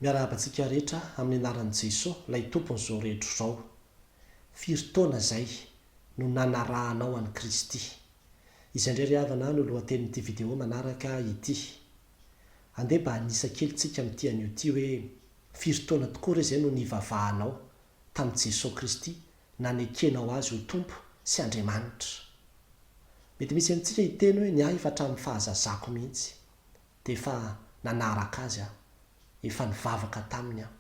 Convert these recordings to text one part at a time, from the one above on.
Miarahaba antsika rehetra amin'ny anaran'i Jeso, ilay Tompon'izao rehetra izao. Firy taona izay no nanarahanao an'i Kristy? Izay indray ry havana no lohatenin'ity video manaraka ity. Andeha mba hanisa kely tsika amin'ity anio ity hoe firy taona tokoa re izay no nivavahanao tamin'i Jeso Kristy nanekenao Azy ho Tompo sy Andriamanitra? Mety misy amintsika hiteny hoe ny ahy efa hatramin'ny fahazazako mihitsy. dia efa nanaraka azy aho, efa nivavaka taminy aho,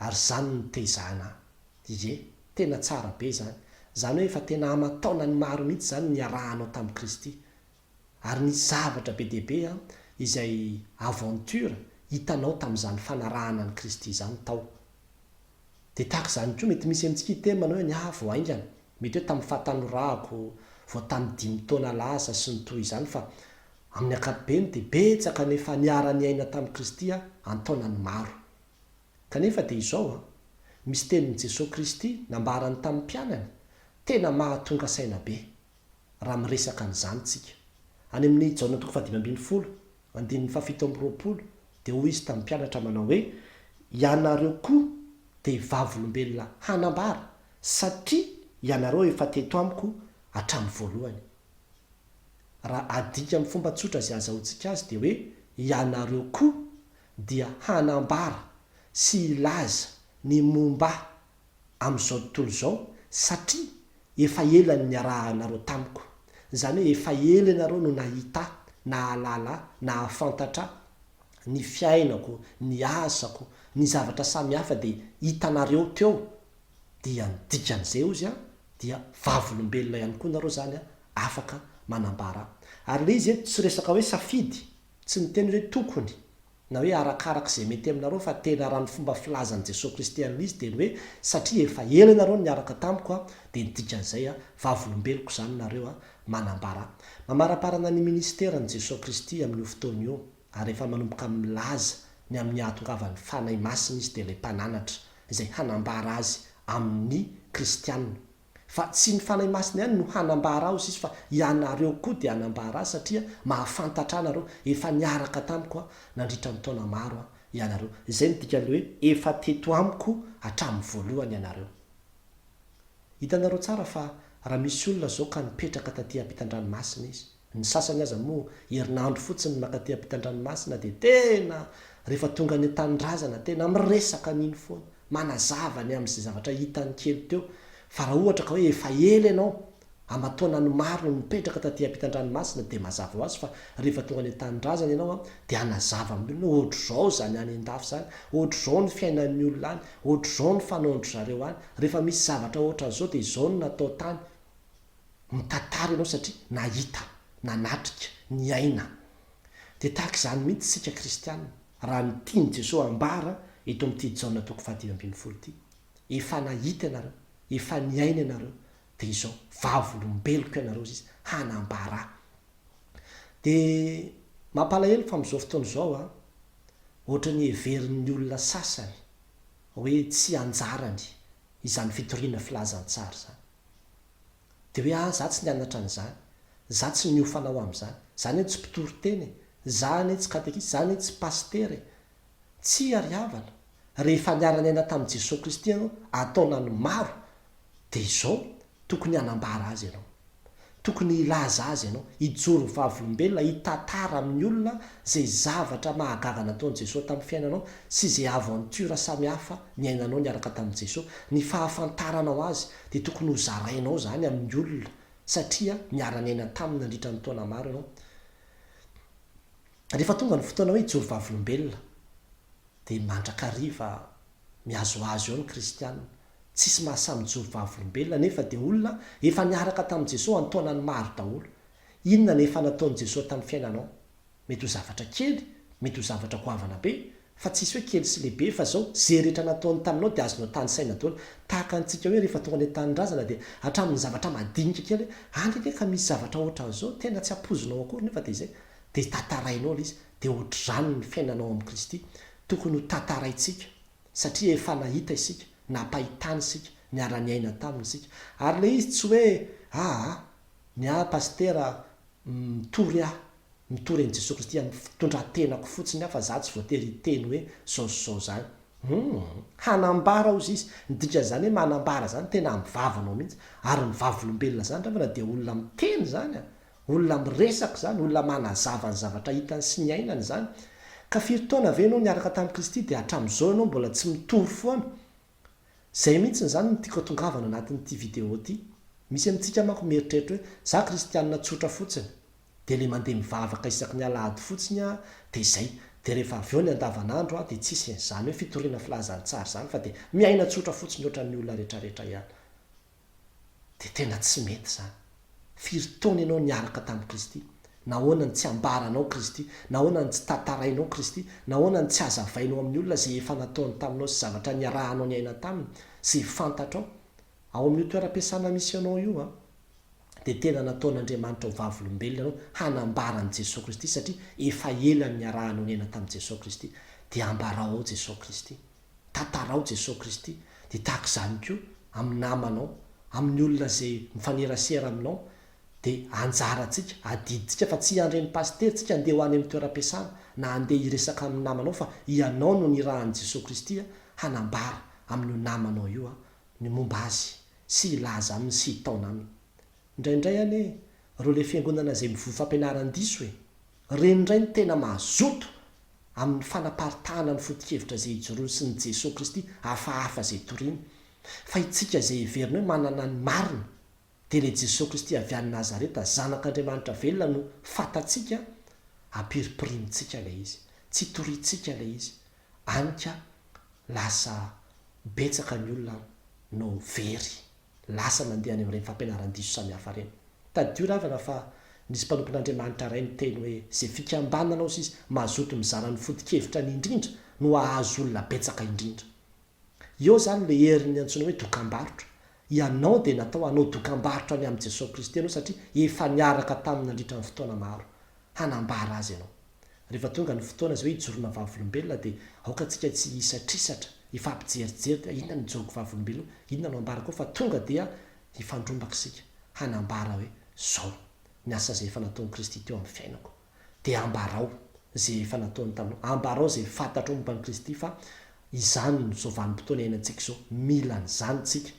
ary izany no nitezahana ahy. Ie, tena tsara be izany, izany hoe efa tena aman-taonany maro mihitsy izany ny niarahanao tamin'i Kristy. Ary nisy zavatra be dia be an, izay aventure hitanao tamin'izany fanarahana an'i Kristy izany tao. Dia tahaka izany koa, mety misy amintsika hiteny manao hoe ny ahy vao haingana, mety hoe tamin'ny fahatanorako, vao tamin'ny dimy taona lasa, sy ny toy izany, fa amin'ny ankapobeny dia betsaka no efa niara-niaina tamin'i Kristy aho an-taonany maro. Kanefa dia izao an, misy tenin'i Jesoa Kristy nambarany tamin'ny mpianany tena mahatonga saina be, raha miresaka an'izany tsika, any amin'ny Jaona toko fahadimy ambin'ny folo, Andininy fahafito amby roapolo, dia hoy Izy tamin'ny mpianatra manao hoe, Ianareo koa dia vavolombelona hanambara, satria ianareo efa teto amiko hatramin'ny voalohany. Raha adika amin'ny fomba tsotra izay azahoantsika azy dia hoe, ianareo koa dia hanambara sy hilaza ny momba ahy. amin'izao tontolo izao satria efa ela ny niarahanareo tamiko, izany hoe efa ela ianareo no nahita ahy, nahalala ahy, nahafantatra ahy, ny fiainako, ny asako, ny zavatra samihafa dia hitanareo teo, dia ny dikan'izay hozy an, dia vavolombelona ihany koa nareo izany an, afaka manambara. Ary ilay izy eto tsy resaka hoe safidy Tsy niteny hoe tokony, na hoe arakaraka izay mety aminareo fa tena raha ny fomba filazan'i Jesoa Kristy an'izy dia ny hoe satria efa ela ianareo no niaraka tamiko a, dia ny dikan'izay a, vavolombeloko izany nareo a, manambara, mamaraparana ny minisiteran'i Jesoa Kristy amin'io fotoana io, ary efa manomboka milaza ny amin'ny hahatongavan'ny Fanahy Masina izy dia ilay Mpananatra izay hanambara azy amin'ny Kristiana. Fa tsy ny Fanahy Masina ihany no hanambara aho sisa fa ianareo koa dia hanambara ahy satria mahafantatra ahy nareo, efa niaraka tamiko aho nandritra ny taona maro aho ianareo. Izay no dikan'ny hoe efa teto amiko hatramin'ny voalohany ianareo. Hitanareo tsara fa raha misy olona izao ka nipetraka taty am-pitan-dranomasina izy, Ny sasany aza moa herinandro fotsiny makaty ampitandranomasina dia tena rehefa tonga any antanindrazana tena miresaka an'iny foana, manazava ny amin'izay zavatra hitany kely teo, fa raha ohatra ka hoe efa ela ianao, aman-taonany maro no nipetraka taty ampitandranomasina dia mazava ho azy fa rehefa tonga any antanindrazana ianao an dia hanazava amin'ny olona hoe ohatr'izao izany any an-dafy izany, ohatr'izao ny fiainan'ny olona any, ohatr'izao ny fanaon-dry zareo any, rehefa misy zavatra ohatran'izao dia izao no natao tany. mitantara ianao satria nahita, nanatrika, niaina. Dia tahaka izany mihitsy isika kristiana raha ny tian'i Jesoa hambara eto amin'ity Jaona toko fahadimy ambin'ny folo ity. Efa nahita ianareo, efa niaina ianareo, dia izao vavolombeloko ianareo ziz hanambara. Dia mampalahelo fa amin'izao fotoana izao a, ohatran'ny heverin'ny olona sasany hoe tsy anjarany izany fitoriana filazantsara izany. Dia hoe ah za tsy nianatra an'izany, za tsy niofana ho amin'izany, za anie tsy mpitory teny e, za anie tsy katekista, za anie tsy pasitera e. Tsia ry havana, rehefa niara-niaina tamin'i Jesoa Kristy ianao an-taonany maro dia izao tokony hanambara azy ianao. Tokony hilaza azy ianao, hijoro ho vavolombelona, hitantara amin'ny olona izay zavatra mahagaga nataon'i Jesoa tamin'ny fiainanao sy izay aventure samihafa niainanao niaraka tamin'i Jesoa. Ny fahafantaranao Azy dia tokony hozarainao izany amin'ny olona satria niara-niaina taminy nandritra ny taona maro ianao. Rehefa tonga ny fotoana hoe hijoro vavolombelona dia mandrakariva mihazohazo eo ny kristiana. Tsisy maha samy mijoro vavolombelona anefa dia olona efa niaraka tamin'i Jesoa an-taonany maro daholo. Inona no efa nataon'i Jesoa tamin'ny fiainanao? Mety ho zavatra kely, mety ho zavatra goavana be, fa tsisy hoe kely sy lehibe fa zao, ze rehetra nataony taminao dia azonao tanisaina daholo. Tahaka antsika hoe rehefa tonga any an-tanindrazana dia hatramin'ny zavatra madinika kely hoe any anie ka misy zavatra ohatran'zao tena tsy ampoizinao akory nefa dia izay dia tantarainao le izy. Dia ohatr'zany ny fiainanao amin'i Kristy tokony ho tantaraintsika. satria efa nahita isika, nampahitany isika, niara-niaina taminy isika. Ary ilay izy tsy hoe, aa, ny ahy pasitera mitory aho, mitory an'i Jesoa Kristy amin'ny fitondran-tenako fotsiny aho fa izaho tsy voatery hiteny hoe izao sy izao izany. Humm! Hanambara hozy izy, ny dikan'izany hoe manambara izany tena amin'ny vavanao mihitsy, ary ny vavolombelona izany raha vao na dia olona miteny izany an! Olona miresaka izany, olona manazava ny zavatra hitany sy niainany izany. Ka firy taona ve ianao niaraka tamin'i Kristy dia hatramin'izao ianao mbola tsy mitory foana? Izay mihitsy izany no tiako atongavana anatin'ity video ity. Misy amintsika manko mieritreritra hoe, za kristianina tsotra fotsiny, dia le mandeha mivavaka isaky ny alahady fotsiny aho dia izay, dia rehefa avy eo ny andavanandro aho dia tsy isin'izany hoe fitoriana filazantsara izany fa dia miaina tsotra fotsiny ohatran'ny olona retraretra ihany. dia tena tsy mety izany. Firy taona ianao niaraka tamin'i Kristy? Nahoana no tsy ambaranao Kristy? Nahoana no tsy tantarainao Kristy? Nahoana no tsy azavainao amin'ny olona izay efa nataony taminao sy zavatra niarahanao niaina taminy sy fantatrao? Ao amin'io toeram-piasana misy anao io an, dia tena nataon'Andriamanitra ho vavolombelona ianao hanambara an'i Jesoa Kristy satria efa ela no niarahanao niaina tamin'i Jesoa Kristy. Dia ambarao ao Jesoa Kristy. tantarao Jesosy Kristy dia tahaka izany koa amin'ny namanao, amin'ny olona izay mifanerasera aminao dia anjarantsika, adidintsika fa tsy handre ny pasitera tsika handeha ho any amin'ny toeram-piasana na handeha hiresaka amin'ny namanao fa ianao no nirahan'i Jesosy Kristy hanambara amin'io namanao io ny momba Azy sy hilaza Aminy sy hitaona Aminy. Indraindray anie ireo ilay fiangonana izay mivoy fampianaran-diso e! Ireny indray no tena mazoto amin'ny fanaparitahana ny foto-kevitra izay ijoroany sy ny Jesoa Kristy hafahafa izay toriny, fa itsika izay heverina hoe manana ny marina dia ilay Jesoa Kristy avy any Nazareta zanak'Andriamanitra velona no fatatsika, ampiripirimintsika ilay izy, tsy torintsika ilay izy, any ka lasa betsaka ny olona no very. lasa nandeha any amin'ireny fampianaran-diso samihafa ireny. Tadidio ravana fa nisy mpanompon'Andriamanitra iray niteny hoe izay fikambanana sy mazoto mizara ny foto-kevitrany indrindra no hahazo olona betsaka indrindra. Eo izany ilay herin'ny antsoina hoe dokambarotra. Ianao dia natao hanao dokambarotra ny amin'i Jesoa Kristy ianao satria efa niaraka taminy nandritra ny fotoana maro hanambara Azy ianao. Rehefa tonga ny fotoana izay hoe hijoroana vavolombelona dia aoka antsika tsy hisatrisatra, hifampijerijery dia inona no ijoroako vavolombelona, inona no ambarako ao fa tonga dia hifandrombaka isika hanambara hoe izao ny asa izay efa nataon'i Kristy teo amin'ny fiainako. Dia ambarao izay efa nataony taminao, ambarao izay fantatrao momba an'i Kristy fa izany no izao vanim-potoana iainantsika izao, mila an'izany isika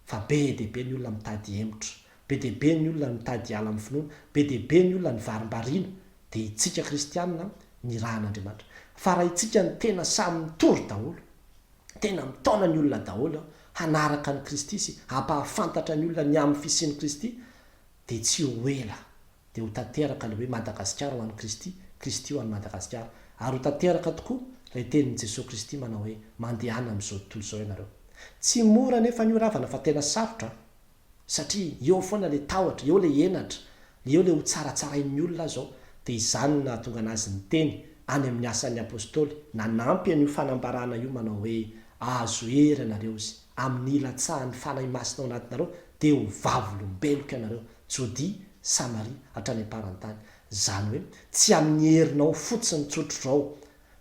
fa be dia be ny olona mitady hemotra, be dia be ny olona mitady hiala amin'ny finoana, be dia be ny olona nivarimbariana Dia itsika kristianina nirahan'Andriamanitra. Fa raha itsika no tena samy mitory daholo, tena mitaona ny olona daholo hanaraka an'i Kristy sy hampahafantatra ny olona ny amin'ny fisian'i Kristy, dia tsy ho ela dia ho tanteraka ilay hoe Madagasikara ho an'i Kristy, Kristy ho an'i Madagasikara. Ary ho tanteraka tokoa ilay tenin'i Jesoa Kristy manao hoe, mandehana amin'izao tontolo izao ianareo. Tsy mora anefa an'io ravana fa tena sarotra an! satria eo foana ilay tahotra, eo ilay henatra, eo ilay hotsaratsarain'ny olona aza ao, dia izany no nahatonga an'azy niteny any amin'ny Asan'ny Apostoly, nanampy an'io fanambarana io manao hoe, Ahazo hery ianareo izy amin'ny hilatsahan'ny Fanahy Masina ao anatinareo, dia ho vavolombeloko ianareo, Jodia, Samaria, hatrany am-parantany. Izany hoe, tsy amin'ny herinao fotsiny tsotr'izao,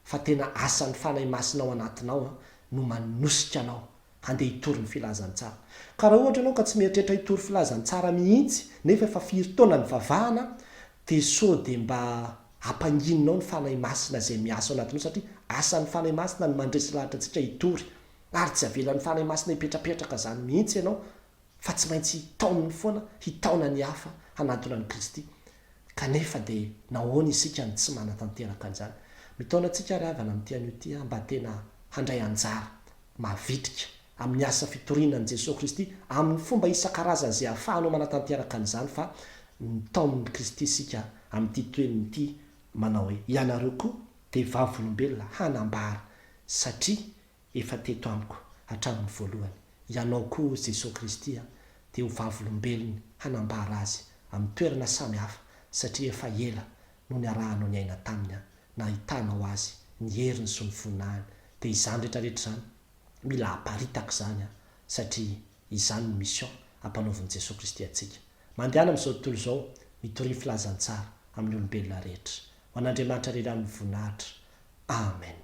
fa tena asan'ny Fanahy Masina ao anatinao no manosika anao Andeha hitory ny filazantsara. Ka raha ohatra ianao ka tsy mieritreritra hitory filazantsara mihitsy nefa efa firy taona nivavahana dia sao dia mba ampangininao ny Fanahy Masina izay miasa ao anatinao satria asan'ny Fanahy Masina ny mandresy lahatra antsika hitory ary tsy avelan'ny Fanahy Masina hipetrapetraka izany mihitsy ianao fa tsy maintsy taoniny foana hitaona ny hafa hanatona an'i Kristy. Kanefa dia nahoana isika no tsy manatanteraka an'izany? Mitaona antsika àry havana amin'ity anio ity aho mba tena handray anjara mavitrika amin'ny asa fitoriana an'i Jesoa Kristy amin'ny fomba isan-karazany izay ahafahanao manatanteraka an'izany fa ny taonin'i Kristy isika amin'ity toenina ity manao hoe ianareo koa dia vavolombelona hanambara satria efa teto amiko hatramin'ny voalohany. Ianao koa, hoy Jesosy Kristy, dia ho vavolombelony hanambara Azy amin'ny toerana samy hafa, satria efa ela no niarahanao niaina Taminy, nahitanao Azy, ny heriny sy ny voninahiny. Dia izany rehetrarehetra izany, mila aparitaka izany, satria izany no mission ampanaovin'i Jesosy Kristy antsika. Mandehana amin'izao tontolo izao, mitoria filazantsara amin'ny olombelona rehetra. Ho an'Andriamanitra irery ihany ny voninahitra. Amen.